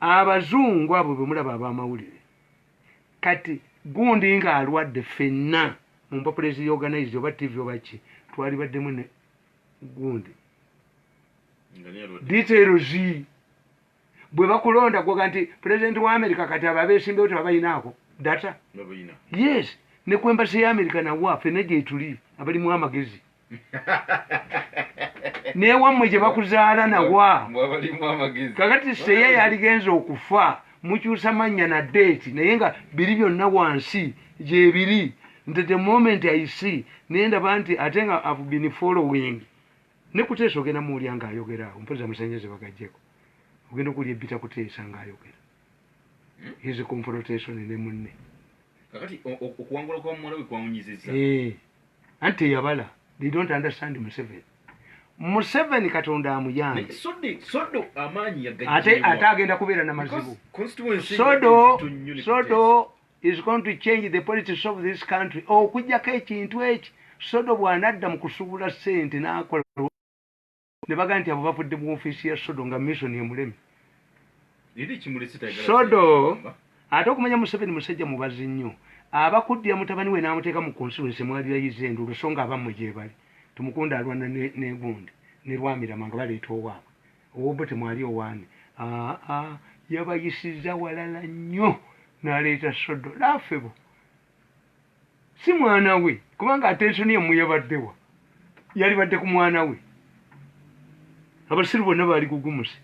abazungu abo bemulaba abamawulire kati gundi nga alwadde fenna mu mpapula eziorganize oba tv oba ki twalibaddemu ne gundi details bwe bakulonda gwoga nti pulezidenti wa amerika kati abo abesimbewo tebabalinaako data yes ne kwembasi ya amerika nawa fenna gyetuli abalimu amagezi naye wammwe gye bakuzaala nawa kakati seya yaligenza okufa mukyusa mannya na deeti naye nga biri byonna wansi gyebiri nti the moment i see naye ndaba nti ate nga have been following ne kuteesa ogenda muwulya ng'ayogera awo mpoza musanyeze bagajjeko ogenda okuwulya ebbita kuteesa ng'ayogera hmm? his confrontation ne munne okuwangula kwa muwala we kwawunyiziza eh. anti teyabala they don't understand museveni museveni katonda amuyange ate ate agenda kubeera na mazibu sodo sodo is going to change the politics of this country okujjako ekintu eki sodo bwanadda mu kusubula sente nakola ne bagamba nti abo bavudde mu ofiisi ya sodo nga mission emulemi sodo ate okumanya museveni musajja mubazi nnyo abakuddira mutabani we n'amuteeka mu constituency mwalirayiza endulu so nga abammwe gyebali tumukunda alwana negundi ne lwamirama nga baleeta owaabwe owobbo temwali owaani aa yabayisiza walala nnyo n'aleeta sodo laafebo si mwana we kubanga attention yamwe yabaddewa yalibadde ku mwana we abasiru bonna baali kugumuse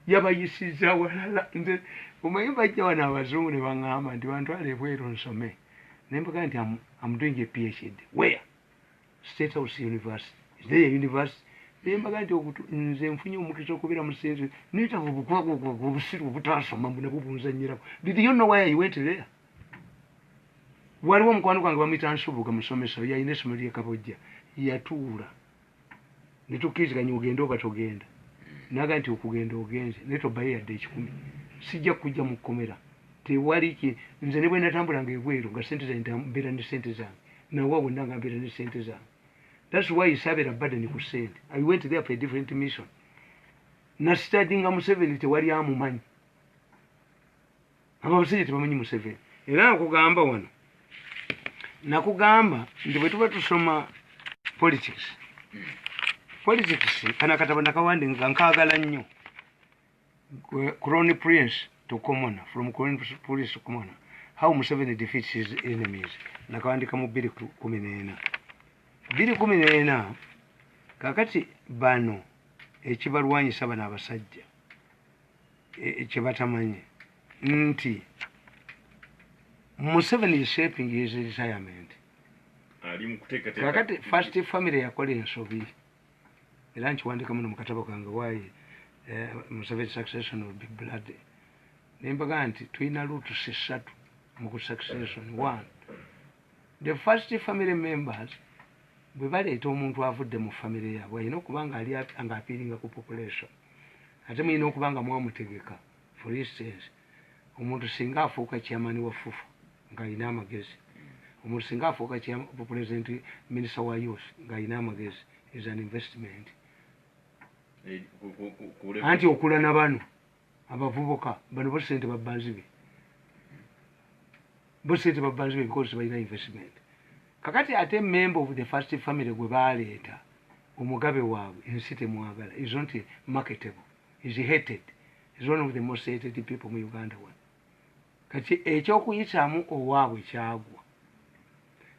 yabayisiza walala nze omanyi bajja wano abazungu ne baŋŋamba nti bantwala ebweru nsome nembaga nti am doing a phd where state house university is there a university nembaga nti nze nfunye omukisa okubeera musinzi netaga obukwagwagwaga obusiru obutaasoma mbunabwo bunzanyiraku did you know where i went there waliwo omukwano gwange bamuyita nsubuga musomesa oyo yalina essomero lyekabojja yatuula ne tukkiriziganya ogenda oba togenda naga nti okugenda ogenze naye tobayo yadde ekikumi sijja kujja mu kkomera tewali ki nze ne bwe natambulanga ebweru nga sente zange mbeera ne sente zange nawa wonna nga mbeera ne sente zange thats why sabeera badeni ku sente i went there for a different mission nastadinga museveni tewali amumanyi abo abasajja tebamanyi museveni era nakugamba wano nakugamba nti bwetuba tusoma politics politics kana katabo nakawandi nga nkagala nnyo crony prince to commona from crony prince to commona how museveni defeats his enemies nakawandika mu biri kumi neena biri kumi neena kakati bano ekibalwanyisa bano abasajja e, kyebatamanyi nti museveni is shaping his retirement kakati first family yakola ensobi era nkiwandika muno mukatabo kange why eh, museveni succession will be blood nembaga nti tulina lutusi satu mu succession one the first family members bwe baleeta omuntu avudde mu family yaabwe alina okuba nga ali nga apiiringa ku population ate mulina okuba nga mwamutegeka for instance omuntu singa afuuka chairman wa fufa ng'alina amagezi omuntu singa afuuka president minister wa youth ng'alina amagezi is an investment eh, anti okula na bano abavubuka bano bo sente babba nzibe bo sente babba nzibe because tebalina investment kakati ate member of the first family gwe baleeta omugabe waabwe ensi temwagala is not marketable is hated is one of the most hated people mu uganda one kati ekyokuyitamu owaabwe kyagwa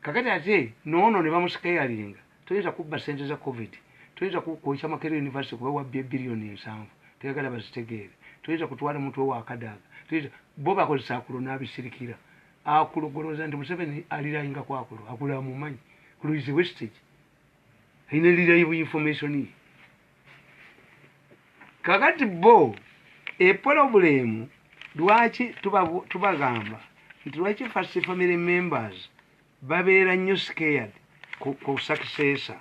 kakati ate noono ne bamusikayalinga toyinza kubba sente za covid toyinza kwokya makere university kuba wabbye biliyoni nsanvu toyagala bazitegeere toyinza kutwala muntu owakadaaga toyinza bo bakozesa akulo n'abisirikira akulo golowooza nti museveni alirayinga ku akulo akulo amumanyi kuluizi westage ayina lirayi bu information ye kakati bo epolobulemu lwaki tubagamba nti lwaki first family members babeera nnyo scared ku successor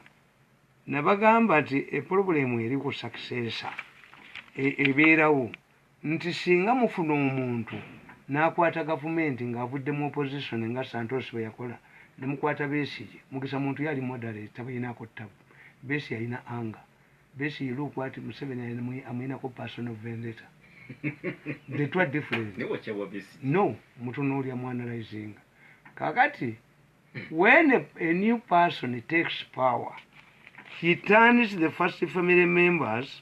nabagamba nti epolobulemu eri ku successor e, ebeerawo nti singa mufuna omuntu nakwata gavumenti nga avudde mu opposition nga Santos bweyakola nemukwata Besigye, Mugisa muntu yali moderate tabalinako tabu, Besi yalina anger, Besi he look what Museveni amulinako personal vendetta the two are different no mutunulya mu analyzing kakati when a, a new person takes power he turns the first family members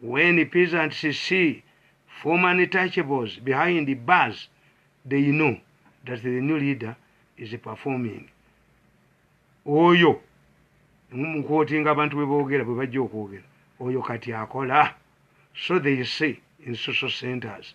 When peasants see former untouchables behind bars, they know that the new leader is performing. Oyo mukwotinga abantu bwe boogera bwe bajja okwogera oyo kati akola so they say in social centers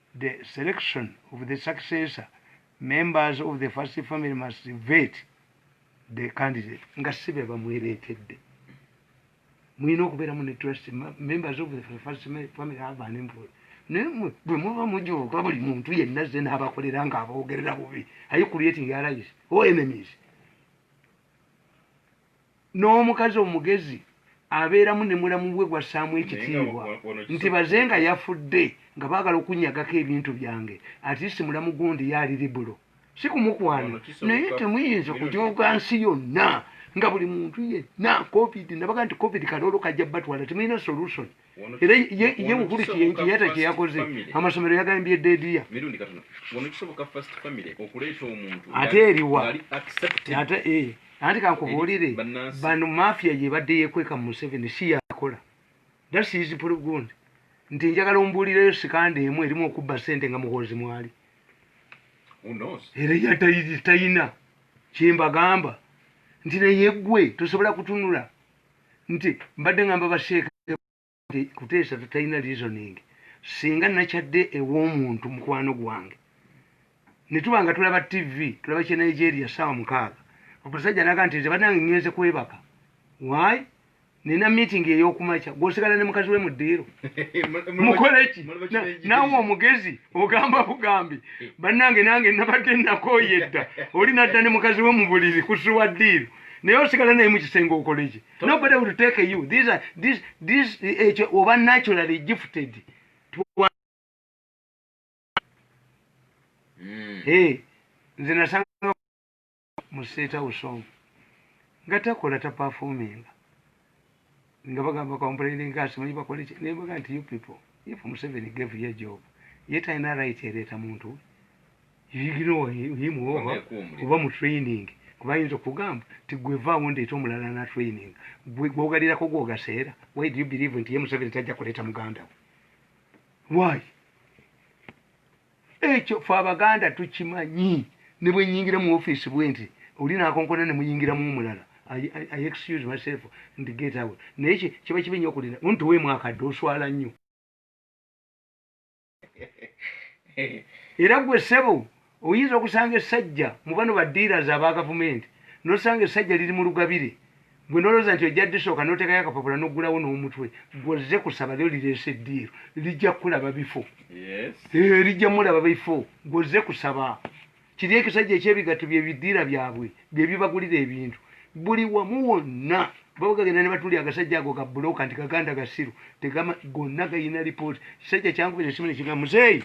The selection of the successor members of the first family must vet the candidate nga si be bamwereetedde mulina okubeeramu ne trust members of the first family have an employ naye bwe muba mujuuka buli muntu yenna ze n'abakolera nga aboogerera bubi aye creating allies or enemies N'omukazi omugezi abeeramu ne mulamu we gw'assaamu ekitiibwa nti baze nga yafudde nga baagala okunnyagako ebintu byange at least mulamu gundi ye ali libero si kumukwana naye temuyinza kujooga nsi yonna nga buli muntu yenna covid nabaga nti covid kaloolo kajja batwala temulina solusoni. era ye mukulu nti yata kyeyakoze amasomero yagambye dediya ate eriwa ate eh, anti kankubuulire bano mafia yebadde yekweka mu museveni si yakola dasizipulugund nti njagala ombuulireyo sikanda emu erimu okubba sente nga muhoozi mwali era yatayina kyembagamba nti neyegwe tosobola kutunula nti mbadde ngamba basheeka kuteesa tatalina reasoning singa nakyadde ew'omuntu mukwano gwange netuba nga tulaba tv tulaba kye nigeria saawa mukaaga okusajja naga nti nze banange ngenze kwebaka why nina meeting eyokumakya gwosigala ne mukazi we mu ddiiro mukoleki nawe omugezi ogamba bugambi banange nange nabadde nakoyedda oli nadda ne mukazi we mu buliri kusuwa ddiiro naye osigala naye mukisenge okoleki nobody will take you these are this this ekyo eh, oba naturally gifted hmm. eh, nze nasanga mu state house omu nga takola tapafuminga nga bagamba complaining nga simanyi bakole ki naye bagamba nti you people if museveni gave ye job ye talina right ereeta muntu yimuohim oba oba mu training kuba yinza okugamba nti gwevaawo ndeeta omulala na training gwogalirako gwogaseera why do you believe nti ye museveni tajja kuleeta muganda we why Ekyo fe abaganda tukimanyi nebwenyingira mu office bwenti oli nakonkona nemuyingiramu omulala I excuse myself and get away naye kiba kibi nyo okulinda nti tuweemu akadde oswala nnyo era gwe sebo oyinza okusanga esajja mubano ba dealers aba gavumenti nosanga esajja liri mu lugabire Gwe nolowooza nti ojja disooka notekayo akapapula noggulawo n'omutwe gwe ozze kusaba lyo lireese eddiiru lijja kukulaba bifo eh, lijja mulaba bifo gwe ozze kusaba kiri ekisajja ekyebigatto byebiddiira byabwe byebibagulira ebintu buli wamu wonna babagagenda ne batuli agasajja ago gabuloka nti gaganda gasiru tegama gonna gayina lipooti kisajja kyankubira esimu nekigamba muzeeyi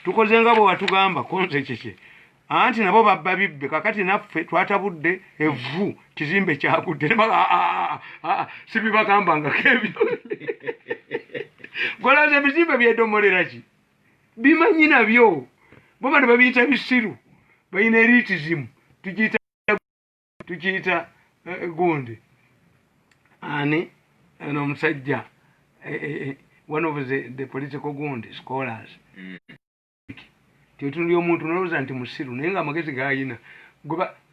tukoze nga bwe watugamba konze kiki anti nabo babba bibbe kakati naffe twatabudde evvu kizimbe kyagudde sibibagambangako ebyo golaza ebizimbe byedomolera ki bimanyi nabyo bo bano babiyita bisiru balina eritizimu tukiyita tukiyita eh, gundi ani ono omusajja eh, eh, one of the, the political gundi scholars mm. nti otunulya omuntu nolowooza nti musiru naye nga amagezi gayina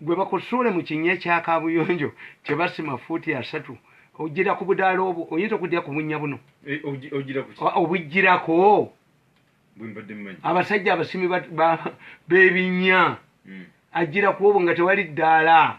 gwe bakosoole mu kinya kya kabuyonjo kye basima fuuti asatu ojira ku budaala obwo oyinza okujja ku bunnya buno eh, obujjirako abasajja abasimi b'ebinnya hmm. ajjira ku obwo nga tewali ddaala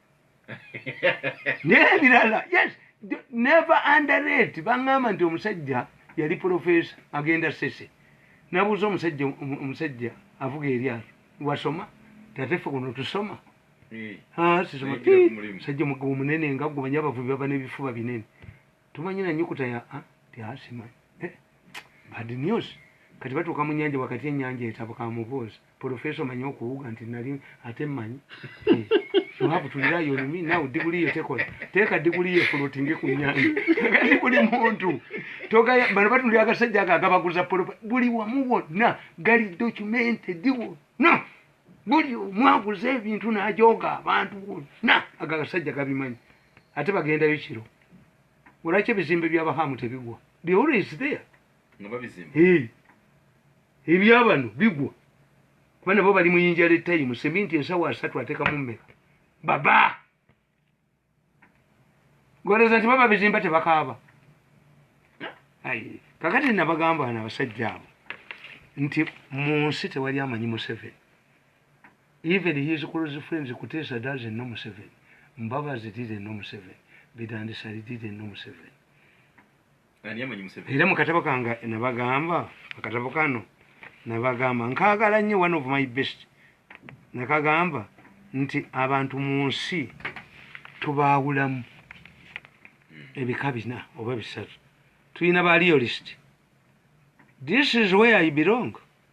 nebirala yes never underrate baŋŋamba nti omusajja yali profesa agenda sese nabuuza omusajja omusajja avuga eryato wasoma tatefe kuno tusoma eh. ah, sisoma musajja mugabo munene nga gumanya abavubi baba nebifuba binene Tumanyi na nyukuta ya a ti a simanyi. Eh, bad news. Kati batuuka mu nyanja wakati enyanja etabuka mubuuzi. Professor omanyi okuwuga nti nali ate mmanyi. Eh, you have to rely on me now diguli ye tekola. Teeka diguli ye floating ku nyanja. Kati buli muntu. Togaya bano batulira agasajja ako agabaguza polopa. Buli wamu wonna gali documented diwo. No. Buli omwaguza ebintu n'ajooga abantu wonna ago agasajja gabimanyi. ate bagendayo kiro olwaki ebizimbe byabahamu tebigwa ebyabano bigwa kuba nabo bali muyinja letayimu seminti ensawo asatu atekamu mmeka baba goleza nti baba bizimba tebakaaba kakati nabagamba na abasajja abo nti mu nsi tewali amanyi museveni Even his close friends Kutesa doesn't know Museveni. Mbabazi didn't know Museveni. Bidandisali didn't know Museveni. Era mu katabo kange nabagamba akatabo kano nabagamba nkagala nnyo one of my best nakagamba nti abantu mu nsi tubaawulamu hmm. ebika bina oba bisatu tulina ba realist this is where i belong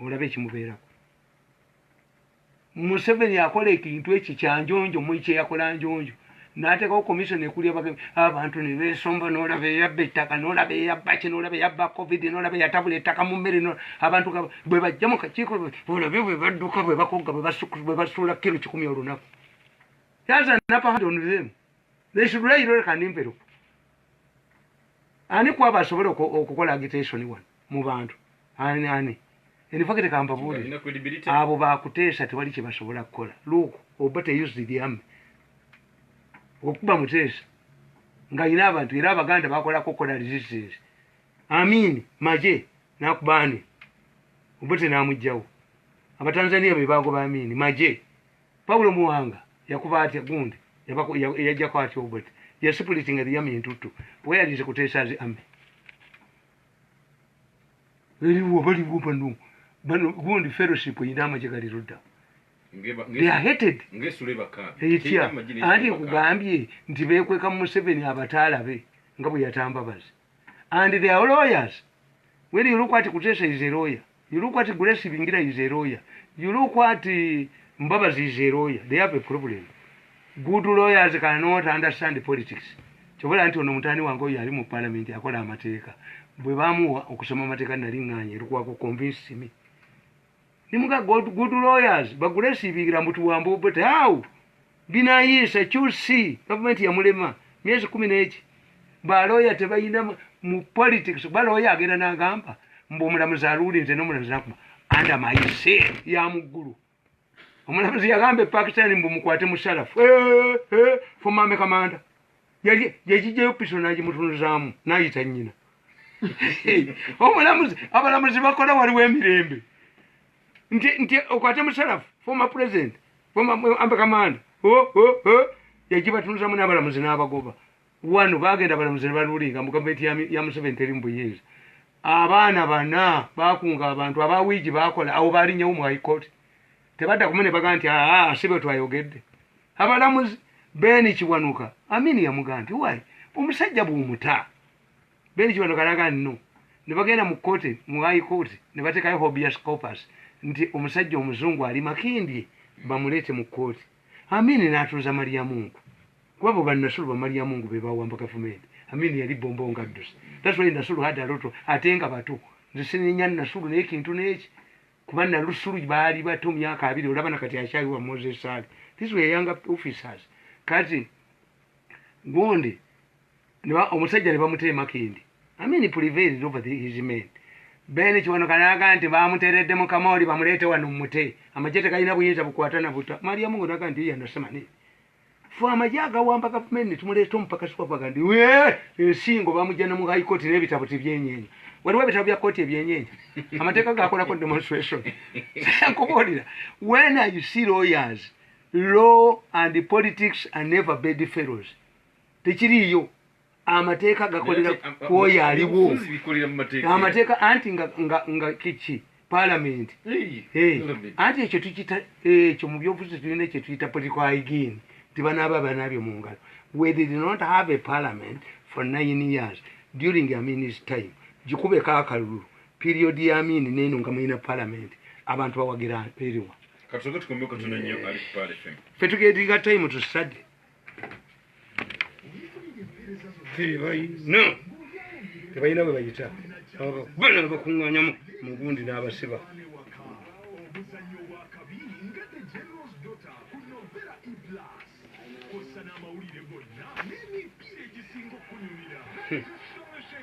olabe ekimubeerako museveni akola ekintu ekyo kyanjonjo muli kyeyakola njonjo nateekawo komisiona ekulya abantu nebesomba nolaba eyabba ettaka nolaba eyabba ki nolaba eyabba covid nolaba eyatabula ettaka mu mmere abantu bwe bajja mu kakiiko olabe bwe badduka bwe bakogga bwe basuula kiro kikumi olunaku yaza napahadonzemu they should lay lore kanimperuko ani kwabo asobola okukola agitation wano mu bantu ani ani enifakite kambabuulire abo bakuteesa tewali kyebasobola kukola luuku oba teyuziryame okuba muteesa nga yina abantu era abaganda bakolako okukola resistance amiini maje nakubaani oba tenamugjawo abatanzania bebagoba amiini maje Paulo Muwanga yakuba atya gundi yajjako atya obwet yasipulitinga ebiyama entuttu kuba yalinze kuteesa nze ame eriwo baliwo bano bano gundi fellowship erina amagye gali ludda etya anti nkugambye nti bekweka mu museveni abataalabe nga bwe yatambabazi and their lawyers when you look at kuteesa is a lawyer You look at Grace Bingira is a lawyer. You look at uh, Mbabazi is a lawyer. They have a problem. Good lawyers cannot understand politics. Kyobola nti ono mutani wange oyo ali mu parliament akola amateeka. Bwe bamuwa okusoma amateeka nali nganye erikuwa ku convince me. Nimuga good, good lawyers, but Grace Bingira mbutuwambo but how? binayisa qc gavumenti yamulema myezi kumi neki baloya tebalina mu politics baloya agenda nagamba mbu omulamuzi aluuli nze nomulamuzi nakuma anda mayise yamuggulu omulamuzi yagamba epakistan mbu mukwate musalafu fomame kamanda yajijayo piso nagimutunuzaamu nayita nyina omulamuzi abalamuzi bakola waliwo emirembe nti nti okwate musalafu former president former ambe kamanda o oh, o oh, o oh. yajibatunuzamu n'abalamuzi n'abagoba wano bagenda abalamuzi ne balulinga mu gavumenti ya museveni teri mu buyinza abaana bana bakunga abantu aba wiigi bakola awo balinyewo mu high court tebadda kumu ne baga nti aa si bwe twayogedde abalamuzi beni kiwanuka amini yamugamba nti wayi omusajja bw'omutaa Ben Kibano kalaga nno ne bagenda mu kkooti mu High Court ne bateekayo habeas corpus nti omusajja omuzungu ali Makindye bamuleete mu kkooti Amin n'atuuza Maliyamungu kuba bo bannasulu ba Maliyamungu be baawamba gavumenti Amin yali bbombo ngadduse that's why Nasulu had a lot of ate nga bato nze sinenya Nasulu naye kintu n'eki kuba Nalusulu baali bato myaka abiri olaba na kati akyali wa Moses Sali these were young officers kati gundi omusajja ne bamutera emakindi amini prevailed over the, his men ben kiwanuka naga nti bamuteredde mu kamoli bamuleete wano mumute amagye tegalina buyinza bukwata na buta maliyamu ngo naga nti yanasemani fe amagye agawamba gavumenti netumuleeta omupakasi wabaga nti ensingo bamugya ne mu high court n'ebitabo tibyenyenye waliwo ebitabo bya kooti ebyenyenye amateeka gakolako demonstration nkubuulira when you see lawyers law and politics are never bed fellows tekiriiyo amateeka gakolera ku oyo aliwo amateeka anti nga kiki palamenti anti ekyo tukita ekyo mu byobufuzi tulina ekyo tuyita political hygiene nti banaaba banaabyo mu ngalo we did not have a parliament for nine years during aminis time gikubeko akalulu period ya amini neeno nga mulina palamenti abantu bawagira eriwa fe tugetinga time to study tebalina tebalina bwe bayita abakubana abakuŋŋanyamu mu gundi n'abasiba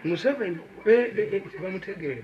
museveni bamutegeere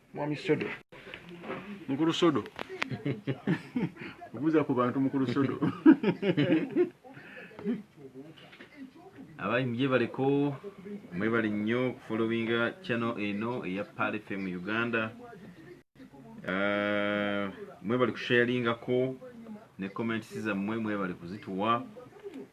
Mwami Sodo. Mukulu Sodo. Obuza ku bantu mukulu Sodo. Abayi mje baliko mwe bali nnyo followinga channel eno eya Pale FM Uganda. Uh, mwe bali kusharinga ko ne comments za mwe mwe bali kuzituwa.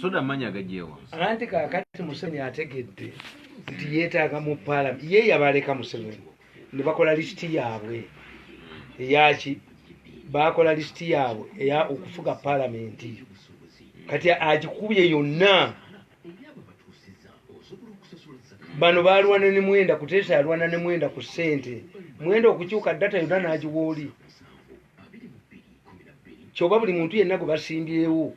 soda amanyi agajewa anti kakati museveni ategedde nti yetaaga mu palamenti ye yabaleka museveni ne bakola lisiti yaabwe eyaki bakola lisiti yaabwe eya okufuga palamenti kati agikubye yonna bano balwana ne mwenda kuteesa yalwana ne mwenda ku ssente mwenda okukyuka data yonna n'agiwa oli kyoba buli muntu yenna gwe basimbyewo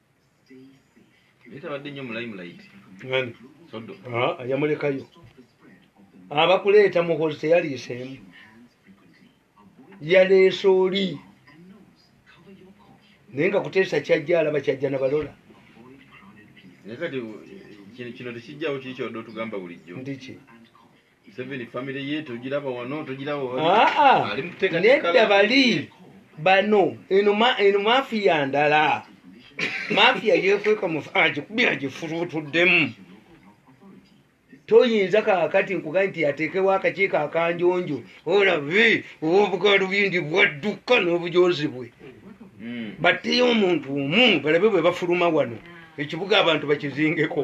naye tabadde nnyo mu limelight ani sodo Ah, yamulekayo abakuleeta muhozi teyaliiseemu yaleese oli naye nga kuteesa kyajja alaba kyajja nabalola naye kati kino kino tekijjawo kiri kyodde otugamba bulijjo ndiki Museveni family ye togiraba wano togiraba wano. Ah ah. Ali muteka nedda bali bano eno ma eno mafia ndala. Mafia yekweka mu aje kubya aje furutu dem. Toyinza kakati nkugaye nti atekewo akakiiko akanjonjo olabe obugalu bindi bwadduka n'obujozi bwe hmm. batteyo omuntu omu balabe bwe bafuluma wano ekibuga abantu bakizingeko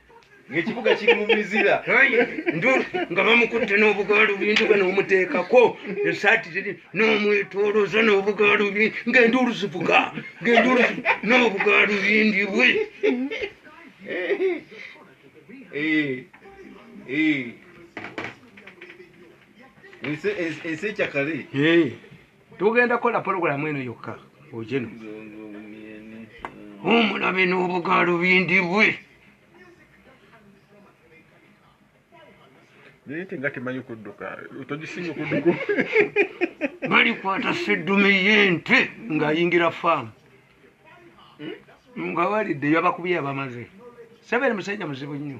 ng'ekibuga kiri mu mizira nga bamukutte n'obugaalubindi bwe n'omuteekako esaati ziri n'omwetooloza n'obugaalubindi ng'enduulu zivuga ng'enduulu n'obugaalubindi bwe ensi ekyakale tugenda kola program eno yokka ojeno omulabe n'obugaalo bindibwe naye te nga temanyi kudduka togisinga okudduka balikwata seddume yente ng'ayingira faamu nga walidde yabakubye yabamaze sebeere musajja muzibu nnyo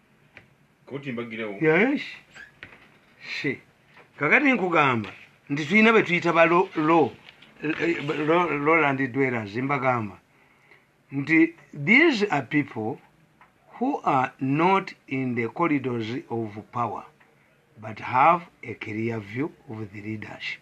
koti mbagirewo yes she kakati nkugamba nti tulina betuyita ba roland dwellers mbagamba nti these are people who are not in the corridors of power but have a clear view of the leadership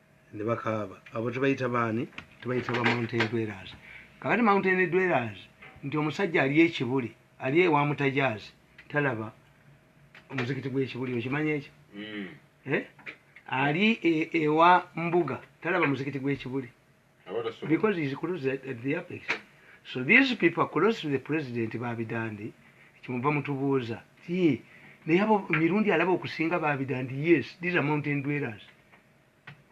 ne bakaaba abo tebayita baani tebayita ba mountain dwellers kakati mountain dwellers nti omusajja ali ekibuli ali ewa mutajaazi talaba omuzikiti gwekibuli okimanyi ekyo mm. eh? ali e, ewa mbuga talaba muzikiti gwekibuli because he's close at, at the apex so these people are close to the president babidandi kimuva mutubuuza ti naye abo mirundi alaba okusinga babidandi yes these are mountain dwellers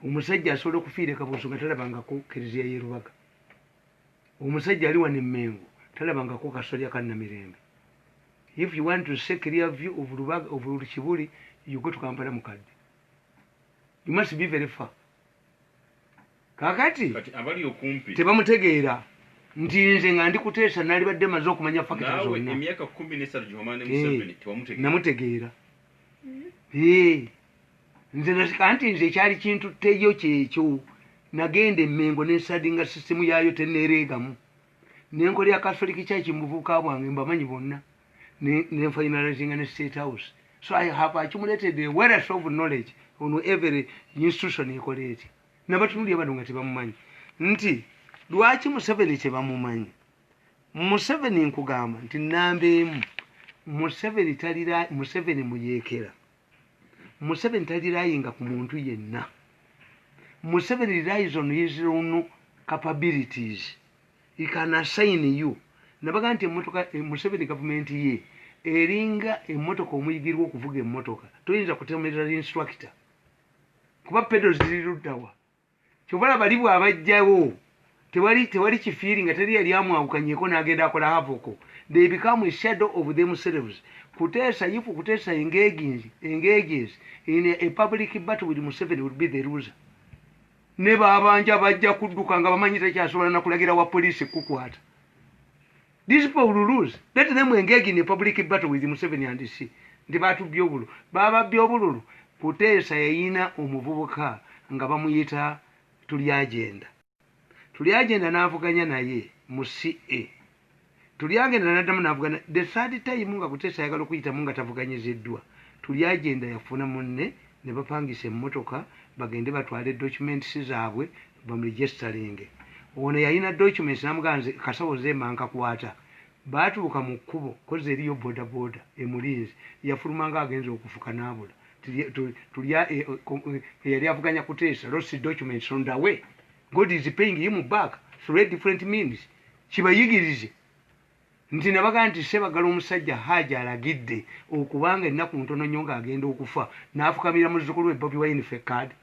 omusajja asobola okufiira ekabuuso nga talabangako kereziya yerubaga omusajja ali wano emmengo talabangako kasolya kannamirembe if you want to say clear view of lubaga of kibuli you go to kampala mukadde you must be very far kakati tebamutegeera nti nze nga ndi kuteesa nalibadde maze okumanya fakita zonna namutegeera nze nasika nti nze ekyali kintutteyo kyekyo nagenda emengo nensadinga sisitemu yaayo teneereegamu nenkola ya catholic church mubuvubuka bwange mbamanyi bonna nenfainalizinga ne state house so i have accumulated a wealth of knowledge on every institution ekola etya nabatunulya bano nga tebamumanyi nti lwaki museveni tebamumanyi museveni nkugamba nti namba emu museveni talira museveni muyekera Museveni talirayinga ku muntu yenna. Museveni relies on his own capabilities. He can assign you. Nabaga nti emotoka eh, Museveni gavumenti ye eringa emotoka omuyigirwa okuvuga emotoka. Toyinza kutemerera instructor. Kuba pedo ziri luddawa Kyova olaba ali bwabajjawo tewali tewali kifiringa teri yali amwawukanyeko nagenda akola havoko they become a shadow of themselves kutesa if kutesa engages engages in a public battle with museveni will be the loser ne babanja bajja kudduka nga bamanyi takyasobola nakulagira wa police kukwata These people will lose. Let them engage in a public battle with Museveni and see. Nti batubye obulu. Bababye obululu. Kuteesa yayina omuvubuka nga bamuyita tuli agenda. Tuli agenda n'avuganya naye mu CA. Tuli agenda n'addamu n'avugana. The third time nga Kuteesa ayagala okuyitamu nga tavuganyiziddwa. Tuli agenda yafuna munne ne bapangisa emmotoka bagende batwale documents zaabwe bamuligestalinge ono yalina documents namugamba nze kasawo nze mba nkakwata baatuuka mu kkubo kozi eriyo bodaboda emulinzi yafulumanga agenza okufuka naabula tulya e, e, e, yali avuganya kuteesa lost documents on the way god is paying him back through different means kibayigirize nti nabagaa nti sebagala omusajja haaja alagidde okubanga ennaku ntono nnyo ng'agenda okufa n'afukamira muzzukulu we bobi wine fekkaadi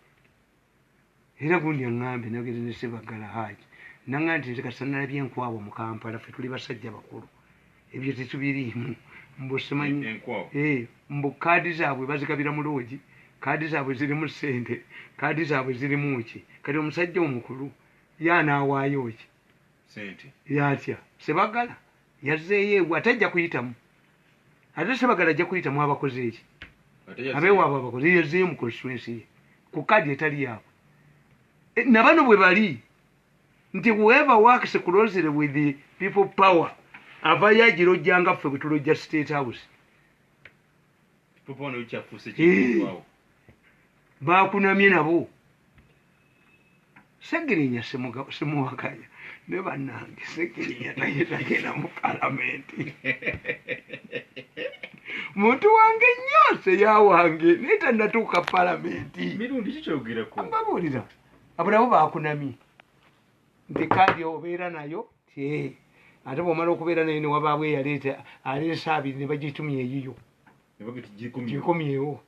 era gundi aŋŋambye nayogedde ne sebaggala haaji naŋŋambye nti nze kati sanalabye enkwawa mu kampala fe tuli basajja bakulu ebyo tetubiriimu mbu simanyi eh, mbu kaadi zaabwe bazigabira mu loogi kaadi zaabwe zirimu ssente kaadi zaabwe zirimu ki kati omusajja omukulu ye anaawaayo ki yatya sebagala yazzeeyo ewa ate ajja kuyitamu ate sebagala ajja kuyitamu abakoze eki abeewaabwe abakoze yazzeeyo mu konstituensi ye ku kaadi etali yaabwe e, nabano bwe bali nti whoever works closely with the people power avayo agirojja nga ffe bwetulojja state house bakunamye nabo Segirinya simuwakanya ne banange Segirinya naye tagenda mu palamenti muntu wange nnyo seya wange naye tanatuuka palamenti mbabuulira abulabo bakunamye nti kaadi obeera nayo ate bwomala okubeera nayo newabaawo eyaleeta aleesa abiri ne bagitumya eyiyo gikomyewo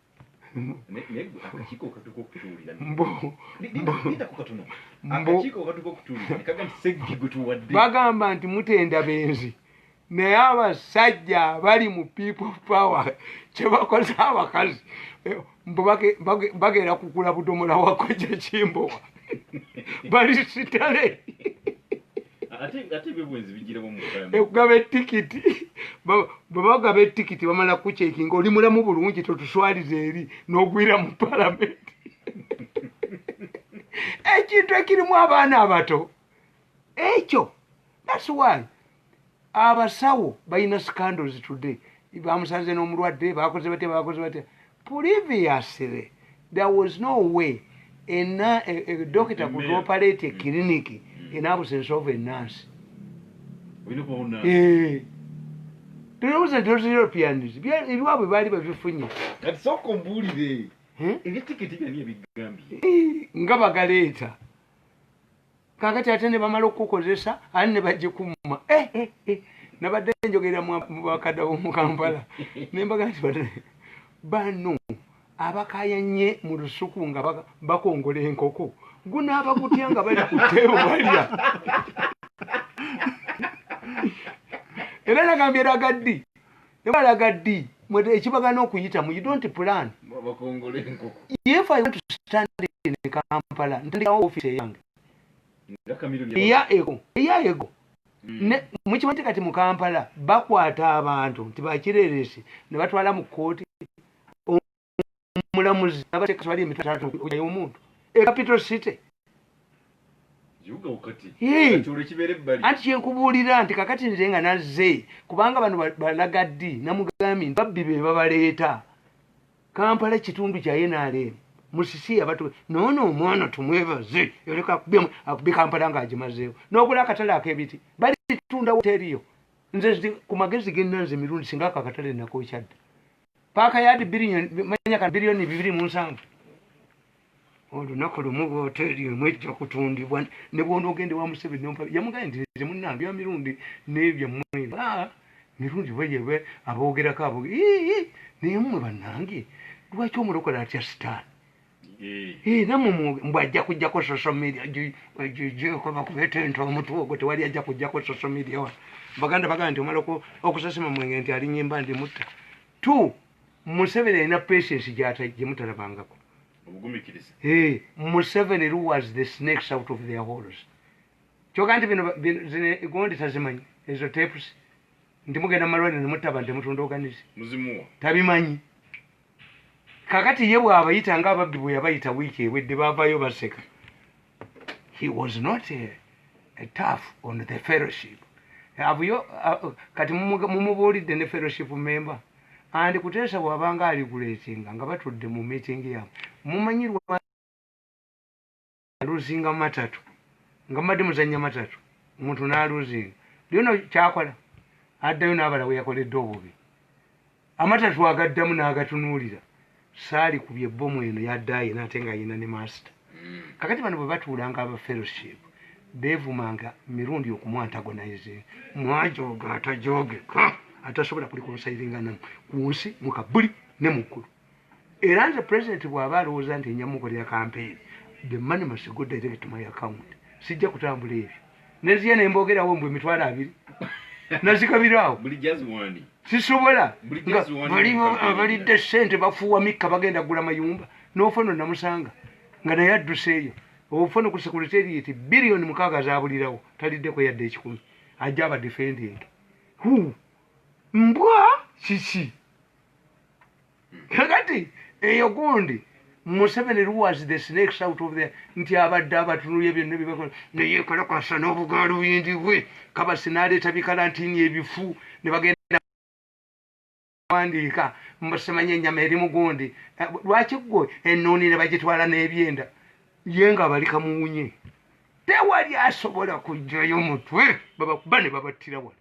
bagamba nti mutenda benzi naye abasajja abali mu people power kyebakoze abakazi mbu bagenda kugula budomola wako kyekimbowa bali sitale ekugaba etikiti bwebagaba etikiti bamala kukyekinga oli mulamu bulungi totuswaliza eri nogwira mu palamenti ekintu ekirimu abaana abato ekyo that's why abasawo balina scandals today bamusanze n'omulwadde bakoze batya bakoze batya previously there was no way ena e, e, dokita could operate a mm. clinic mm. in absence of a nurse eh. tulowooza nti those europeans ebiwabwe baali babifunye eh? eh, nga bagaleeta kakati ate ne bamala okukukozesa ate ne bagikumma eh, eh, eh. nabadde njogera mu bakadda b'omu kampala ne mbaga nti bano abakayanye mu lusuku nga bakongola enkoko gunaaba gutya nga bali ku teebo balya era nagambye eragaddi Nebalaga ddi mwede ekibagana okuyitamu you don't plan bakongole enkoko if i want to stand in kampala ntandikawo office yange eya ego eya ego hmm. ne mukimanyi kati mu kampala bakwata abantu nti bakireresi ne batwala mu kkooti omulamuzi abateeka tebali emitwe taata okujayo omuntu e capital city anti kyenkubuulira nti kakati nze nga nazze kubanga bano balaga ddi namugambi nti babbi be babaleeta kampala ekitundu kya nrm musisi yabatu noono omwana tumwebaze yoleka akubi kampala nga agimazeewo n'ogula akatale ak'ebiti balitunda woteriyo nze ku magezi genna nze mirundi singa ako akatale nakokyadda paaka yadi manya ka biliyoni bibiri mu nsanvu olunaku lumu bwoteeri emu ejja kutundibwa ne bwona ogende wa museveni nompa yamugaye nti nze munna bya mirundi nebyammwe ah, mirundi bweyebwe aboogerako aboge naye mmwe bannange lwaki omulokole atya sitaani era mumwoge mbu ajja kujjako social media jjkobakubetenta omutwe ogwo tewali ajja kujjako social media wa baganda baganda nti omala okusasima mwenge nti alinyimba ndi mutta t museveni alina patience gyemutalabangako museveni was the snakes out of their holes kyoga nti binogondi tazimanyi ezo tapes nti mugenda mumalwaliro nemutaba nti mutunda oganizi tabimanyi kakati ye bwabayita nga ababbi bwe yabayita wiiki ewedde bavayo baseka he was not a, a tough on the fellowship abuyo uh, kati mumubuulidde ne fellowship member and kuteesa bwabanga aliguletinga nga batudde mu meeting yabwe mumanyirwa aluzinga matatu nga mbadde muzanya matatu omuntu n'aluzinga byona kyakola addayo n'abala we yakoledde obubi amatatu agaddamu n'agatunuulira saali ku bye bbomu eno yaddaye naate nga yina ne maasita mm. kakati bano bwe batuulanga aba fellowship beevumanga mirundi okumwantagonize mwajooga atajoogeka atasobola kuli konsairinga namu ku nsi mu kabuli ne mu ggulu era nze president bwaba alowooza nti nja mukolera campaign the money must go direct to my account sijja kutambula ebyo neziya ne mbogerawo mbu emitwalo abiri nazikabiraawo sisobola abalidde sente bafuuwa mikka bagenda gula mayumba nofono namusanga nga naye adduseeyo ofono ku secretariat biliyoni mukaaga zabulirawo taliddeko yadde ekikumi ajja abadefendinge mbwa kiki kakati eyo gundi museveni was the snakes out of there nti abadde abatunulya byonna byebakola naye kalakasa n'obugaalo buyingi bwe kabasi naleeta bikalantini ebifu ne bagenda wandiika mbasemanya enyama eri mugundi eh, lwaki gwe ennuuni ne bagitwala n'ebyenda ye nga bali kamuwunye tewali asobola kujjayo mutwe babakuba ne babattira wala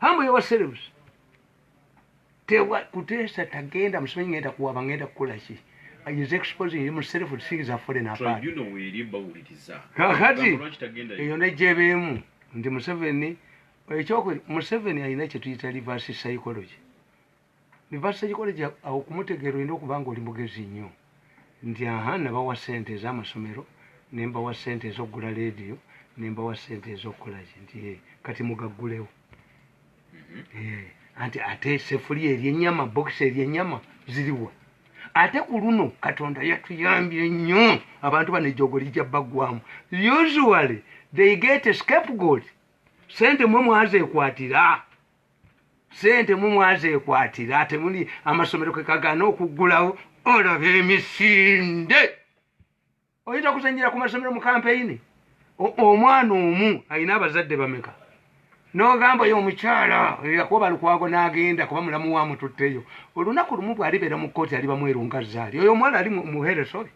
Hambo yawa serebusi. Tewa kutesa tagenda msimenyi ngenda kuwa bangenda kukula shi. He is exposing himself to things that are falling apart. Tribe, you know where he bawuliriza. Kakati, eyo ne jebemu. Ndi Museveni, ekyokwe, Museveni ayina chetuyita reverse psychology. Reverse psychology awo kumutegeera olina okuba nga oli mugezi nnyo nti aha nabawa ssente ez'amasomero ne mbawa ssente ez'okugula leediyo ne mbawa ssente ez'okukola ki nti eh, kati mugaggulewo mhm. eh, anti ate sefuli eryennyama bokisi eryennyama ziriwa ate ku luno katonda yatuyambye nnyo abantu bano ejogo lijja baggwamu usually they get scapegoat sente mwe mwazeekwatira sente mumwazekwatira ate muli amasomero kekagana okuggulawo olaba emisinde oyinza kuzanyira ku masomero mu kampeyini omwana omu alina abazadde bameka nogamba yo omukyala yakuba lukwago nagenda kuba mulamu wamututteyo olunaku lumu bwalibeera mu kooti aliba mwerungazaali oyo omwana ali muheresole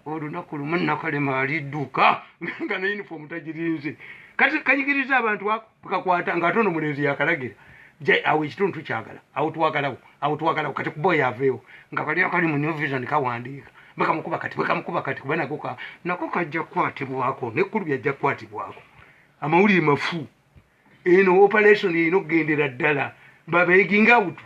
olunaku lumu nakalema alidduka nga ne uniform tagirinze kati kayigiriza abantu ako kakwata nga atono mulenzi yakalagira jai awo ekitundu tukyagala awo twagalawo awo twagalawo kati kuba oyo aveewo nga kali akali mu new vision kawandiika bakamukuba kati bakamukuba kati kuba nako ka nako kajja kukwatibwako nekkulu byajja kukwatibwako amawulire mafu eno operation erina okugendera ddala babeginga awutu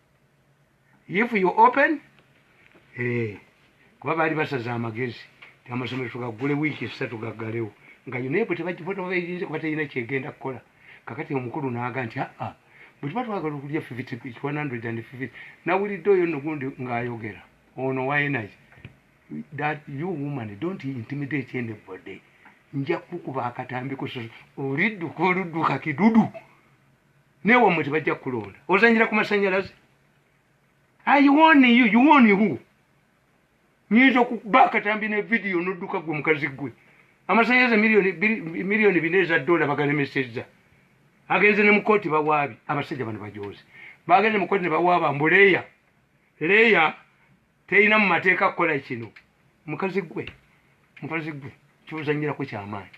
if you open eh, kuba baali basaza amagezi amasomero tugaggule wiiki esatu gaggalewo nga unebu tebagiyinza kuba terina kyegenda kukola kakati omukulu naaga nti aa ah, ah, bwe tuba twagala okulya 150 nawulidde oyo nogundi ng'ayogera ono waenayi that you woman don't intimidate anybody nja kukuba akatambi kusoso olidduka oludduka kidudu naye wamwe tebajja kukulonda ozanyira ku masanyalaze ayiwoniyo yuwoni hu nyinza okuba akatambi ne vidiyo nodduka gwe mukazi gwe amasanyalaze miliyoni bina eza dola bagalemesezza agenze ne mukooti bawaabi abasajja bano bajozi bagenze mukooti ne bawaaba mbu leya leya terina mu mateeka kukola kino mukazi gwe mukazi gwe kyozanyirako kyamaanyi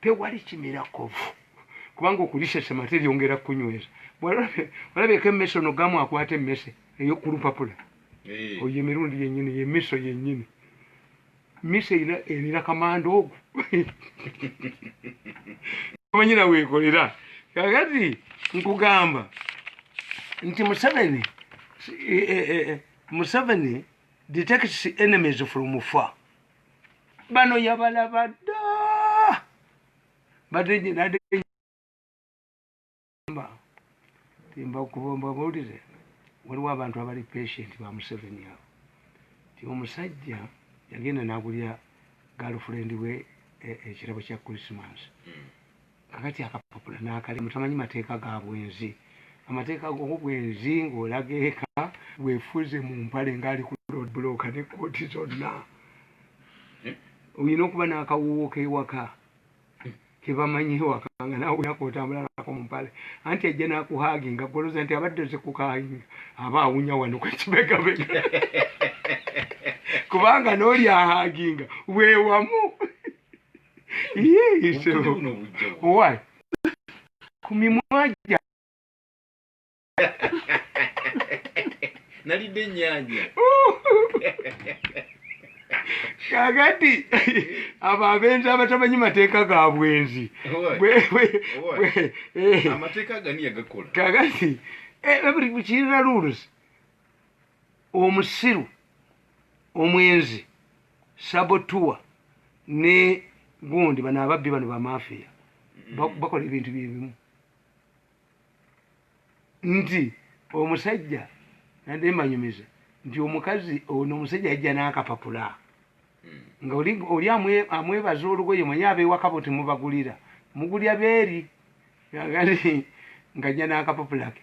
tewali kimira kovu kubanga okulisesema teryongera kunyweza olabeko emmese ono gamu akwata emmese eyokulupapula eh. oyo emirundi yenyini yemiso yenyini miso erina erina kamanda ogwo omanyina wekolera kakati nkugamba nti museveni eh, eh, museveni detects enemies from far bano yabalaba dda badenyinademba timba kuba mbabulire waliwo abantu abali patient ba museveni abo ti omusajja yagenda nagulya galfrendi we e, ekirabo kya christmas hmm. kakati akapapula nakalimu tamanyi mateeka ga bwenzi amateeka gobwenzi ng'olaga eka wefuze mu mpale ng'ali ku road bloka ne kooti zonna eh? olina okuba n'akawuwo k'ewaka kebamanyi ewaka nga nawe olinaku otambula nako mu mpale anti ajja nakuhaginga goloza nti abadde ze kukainga aba awunya wano kwekibegabega kubanga n'oli ahaginga wewamu ku mimwa gya nalidde ennyanja kakati abo abenzi abatamanyi mateeka ga bwenzi kakati eh, kirina rules omusiru omwenzi sabotuwa ne gundi bano ababbi bano bamafiya mm. bakola ebintu byebimu nti omusajja nade mbanyumiza nti omukazi ono omusajja ajja nakapapula mm. nga oli amwebaza olugoye manye abewakabo timubagulira mugulya beeri nga jja nakapapulake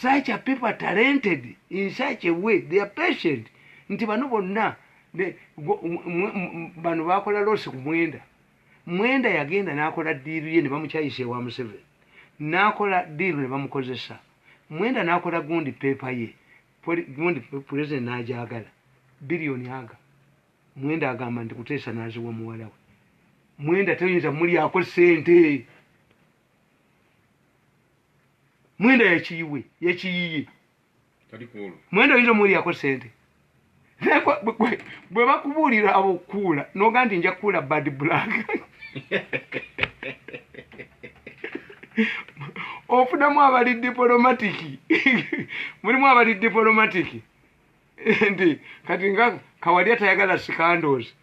such a people are talented in such a way they are patient nti bano bonna bano bakola losi ku mwenda mwenda yagenda nakola diiru ye nebamukyayisa ewa museveni nakola diiru nebamukozesa mwenda nakola gundi peepa ye gundi pulezidenti najagala biliyoni aga mwenda agamba nti kuteesa naziwa muwalawe mwenda toyinza mulyako sente mwenda yekiyiwe yekiyiye mwenda oyinza omuwulirako sente bwe bakubuulira abokuula noga nti nja kuula bad black ofunamu abali dipolomatiki mulimu abali dipolomatiki nti kati nga kawalya tayagala sikandozi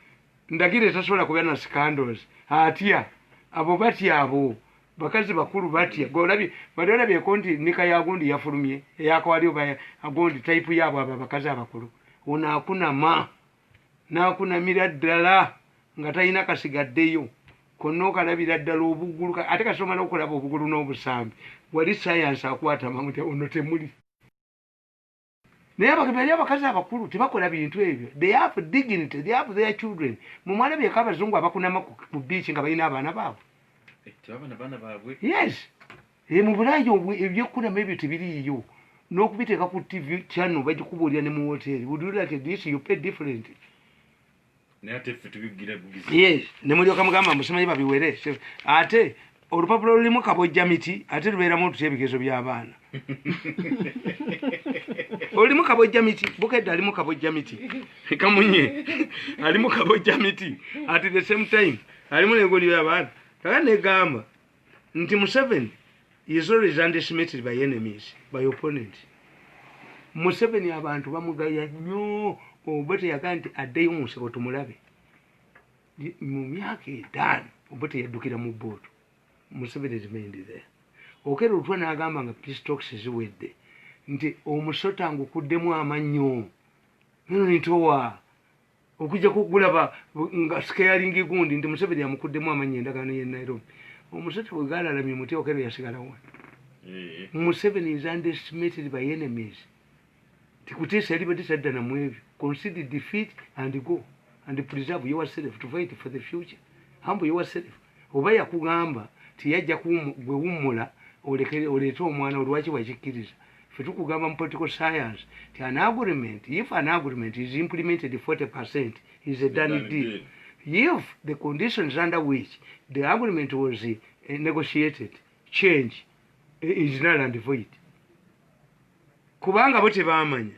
ndagire tasobola kuba na scandals atya abo batya abo bakazi bakulu batya golabi bali olabi ekonti nika ya gundi yafulumye eyakwali oba agundi type yabo aba bakazi abakulu una akuna ma na akuna miraddala nga tayina kasigaddeyo konna okalabira ddala obugulu ate kasomala okulaba obugulu n'obusambi wali sayansi akwata mamu ono temuli naye abali abakazi abakulu tebakola bintu ebyo they have dignity they have their children mumwana byeko abazungu abakunama ku beach nga balina abaana baabwe eh, yes eh, mubulayo ebyokunama ebyo tebiriiyo n'okubiteeka ku tv channel bagikubuulira ne mu woteeri would you like this you pay different ne mulyoka mugamba musimanyi babiwere ate olupapula lulimu kabojja miti ate lubeeramu otutya ebigezo by'abaana olimu kabojja miti bukedde alimu kabojja miti kamunye alimu kabojja miti at the same time alimu negoliyo abaana kaka negamba nti museveni is always underestimated by enemies by opponent museveni abantu bamugaya nnyo obote yagaa nti addeyo mu nsabo tumulabe mu myaka etaano obote yaddukira mu bootu museveni remained there okera olutwa n'agamba nga peace talks ziwedde nti omusota ngukuddemu amannyo nono nitowa okujja kugulaba nga sikeyalingi gundi nti museveni amukuddemu amanya endagaano ye nairobi omusajja bwe galalamye muti okero yasigalawa eh. museveni is underestimated by enemies tikutiisa yalibadde tadda namu ebyo consider defeat and go and preserve yourself to fight for the future humble yourself oba yakugamba tiyajja gwe wummula oleete omwana olwaki wakikkiriza fe tukugamba mu political science ti an agreement if an agreement is implemented 40 percent is a done deal if the conditions under which the agreement was eh, negotiated change eh, is null and void kubanga bo tebamanya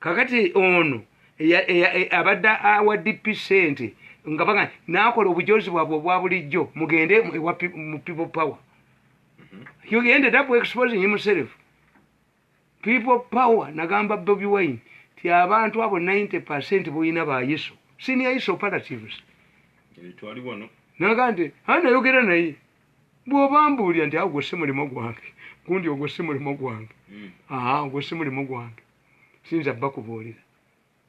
kakati ono abadde awa dp sente nga baga nakola obujozi bwabwe obwa bulijjo mugende mu people power he mhm. ended up exposing himself people power nagamba bobi wine ti abantu abo 90 percent boyina ba yesu senior yesu operatives naga nti anayogera naye bwoba mbuulira nti awo gwe si mulimu gwange gundi ogwo si mulimu gwange hmm. aa ogwo si mulimu gwange siyinza bba kubuulira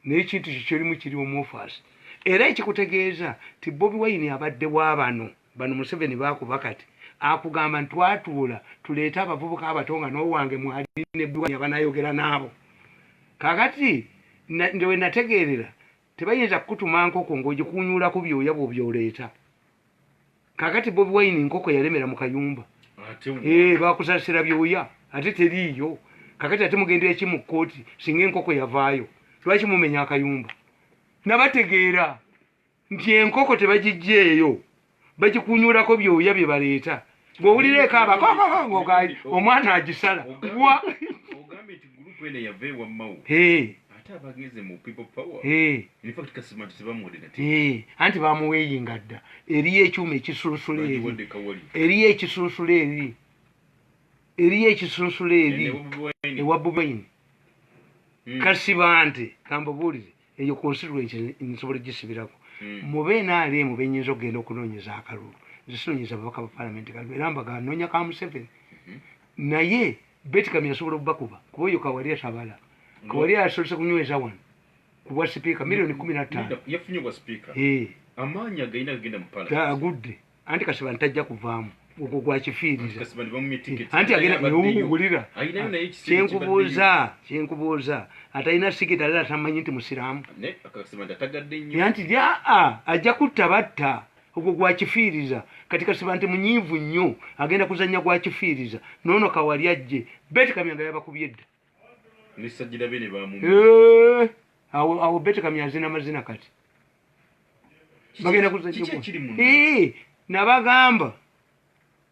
naye ekintu kyo kyolimu kiri omuofaasi era ekikutegeeza ti bobi wayini abadde wa bano bano museveni baakuba kati akugamba nti twatuula tuleete abavubuka abato nga n'owange mwali nebwani abanayogera naabo kakati ndewe nategeerera tebayinza kukutuma nkoko ng'ogikuunyuulako byoya bw'obyoleeta kakati bobi wine nkoko yalemera mu kayumba eh, bakusasira byoya ate teriiyo kakati ate mugendera ki mu kkooti singa enkoko yavaayo lwaki mumenya akayumba nabategeera nti enkoko tebagijjeeyo bagikunyulako byoya bye baleeta ng'owulira ekaaba kokokokokali omwana agisala wa anti bamuweeyinga dda eriyo ekyuma ekisunsula eri eriyo ekisunsula eri eriyo ekisunsula eri ewa bubaini hmm. kasibante kambabuulire eyo constituency nsobola gisibirako hmm. mube nrm benyinza okugenda okunonyeza akalulu nzisinonyeza ababaka ba palamenti kalulu era mbaga nonya ka museveni hmm. naye betikami asobola okubakuba kuba oyo kawali atabala hmm. kawali asobose kunyweza wano kubwa sipiika milioni kumi natano agudde anti kasibani tajja kuvaamu ogwo gwakifiiriza anti agendaulira kyenkubuuza kyenkubuuza atalina sigeti alala tamanyi nti musiraamu anti aa ajja kutta batta ogwo gwakifiiriza kati kasiba nti munyiivu nnyo agenda kuzannya gwakifiiriza noono kawali ajje beti kamyanga yabakubye dda Eh, awo betekamya azina mazina kati bagenda eh, nabagamba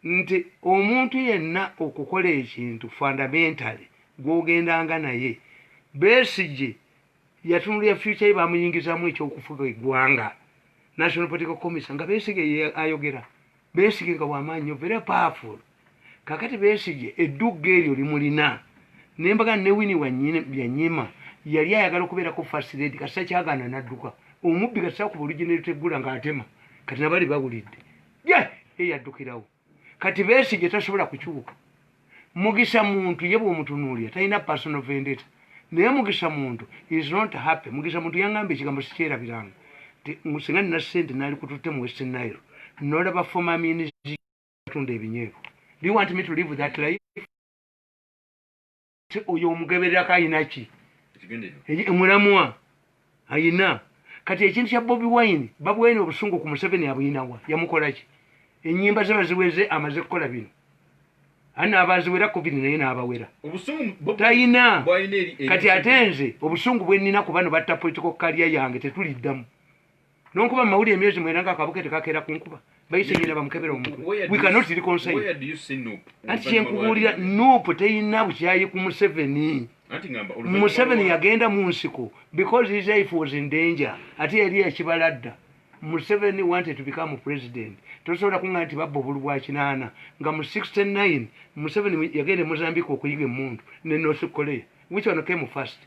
nti omuntu yenna okukola ekintu fundamentale gwogendanga naye besigye yatunulira future ye bamuyingizamu ekyokufuga egwanga national political commission nga besigye ayogera besige nga wamaanyi nyo very powerful kakati besige eddugga eryo limulina nembaga ne wini yanyima yali ayagala okubeerako first lady kasita kyagana nadduka omubbi kasita kuba olugineruteggula ngaatema kati nabali bawulidde ye eyaddukirawo kati besige tasobola kukyuka mugisha muntu ye bwomutunuulira talina personal vendetta naye mugisha muntu is not happy mugisha muntu yangamba ekigambo sikyerabiranga singa nina sente nali kututte mu west nile nolaba former minister atunda ebinyeebo do you want me to live that life oyo omugebererako ayinaki mulamwa ayina kati ekintu kya bobi wine babwene obusungu ku museveni abuyinawa yamukolaki enyimba ze baziweze amaze kukola bino ana abaziwera covid naye nabawera tayina kati ate nze obusungu bwenina ku bano batta political kalya yange tetuliddamu nonkuba mu mawulire emyezi mwena nga akabuke tekakeera ku nkuba bayise nyina bamukebera omukuwekanotirikonsaanti kyenkubuulira nupu teyina bukyayi ku museveni museveni yagenda mu nsiko because his life was in danger ate yali yakibala dda museveni wanted to become president tosobola kunga nti babba obulu bwa kinaana nga mu 69 museveni yagenda e mozambique okuyiga emundu ne north korea which one came first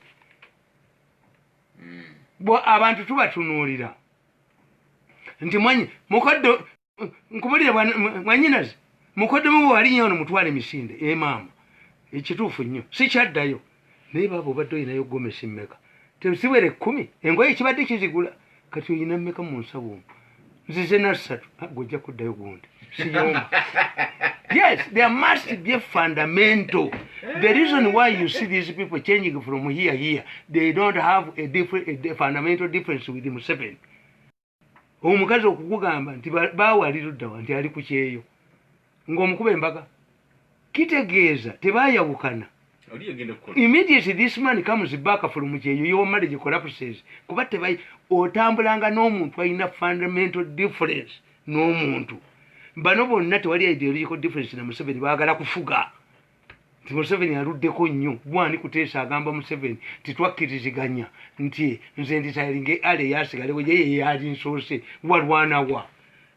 abantu tubatunuulira nti mwanyi mukoddo nkubulire mwanyinazi mukoddomu bwe wali nyo ono mutwala emisinde emaama eh, ekituufu nnyo sikyaddayo naye baaba obadde olinayo gomesi mmeka tesiwere ekkumi engoye ekibadde kizigula kati olina mmeka mu nsawo omu nzize nassatu ah, gwe ojja kuddayo gundi siyomba yes there must be a fundamental the reason why you see these people changing from here here they don't have a, different, a fundamental difference with museveni omukazi okukugamba nti bawaliruddawa nti ali ku kyeyo ng'omukuba embaga kitegeeza tebayawukana immediately this man comes back from kyeyo your marriage collapses kuba tebayi otambulanga n'omuntu alina fundamental difference n'omuntu bano bonna tewali ideological difference na museveni baagala kufuga nti museveni aluddeko nnyo gwani kuteesa agamba museveni titwakkiriziganya nti nze nditalinge ale yasigalewo ye yeyali nsoose walwanawa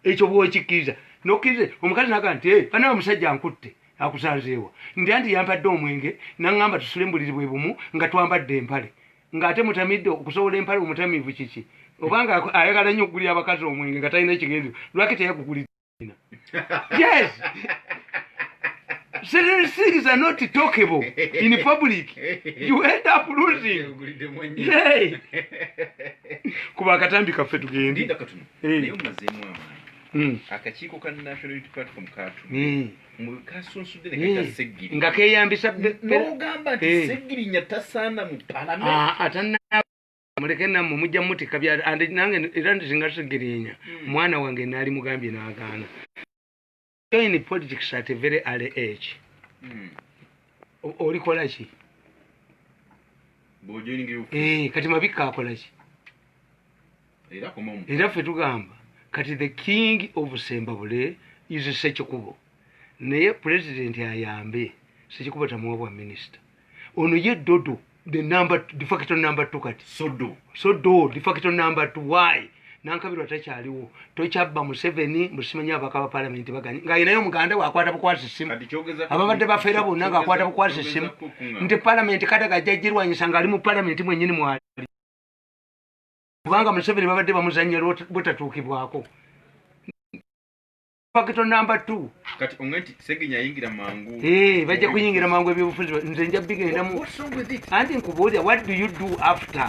ekyo bwokikkiriza nokkiriza omukazi naga nti eh, banawe omusajja nkutte akusanzeewa nti anti yampadde omwenge naŋŋamba tusule mbuliri bwe bumu nga twambadde empale ng'ate mutamidde okusobola empale omutamiivu kiki obanga ayagala nnyo okugulira abakazi omwenge nga talina kigendezo lwaki teyagugulidde yes certain things are not talkable in public you end up losing hey. kuba akatambi kaffe tugende hey. Hmm. akakiiko ka national unity platform katu hmm. kasunsudde nekakaseggiri hmm. nga keyambisa nogamba nti seggirinya tasaana mu palamenti ah, muleke namwe mujja mutika bya and nange era nzinga tegerinya hmm. mwana wange nali mugambye nagana join politics at a very early age hmm. oli kolaki bojoining you eh kati mabika akolaki era koma mu era fe tugamba kati the king of sembabule is sekikubo naye president ayambe sekikubo tamuwa bwa minister ono ye dodo the number de facto number two kati sodo sodo de facto number two why nankabirwa takyaliwo tokyabba museveni musimanya abaka ba palamenti baganye nga yenaye omuganda wakwata bukwasa essimu ababadde bafeera bonna ngaakwata bukwasa essimu nti palamenti kadaga ajja girwanyisa ngaali mu palamenti mwenyini mwali kubanga museveni babadde bamuzanya butatuukibwako pakito namba t kati onge nti segenya ayingira mangu eh, bajja kuyingira mangu ebyobufuzi nze nja bigendamu anti nkubuulira what do you do after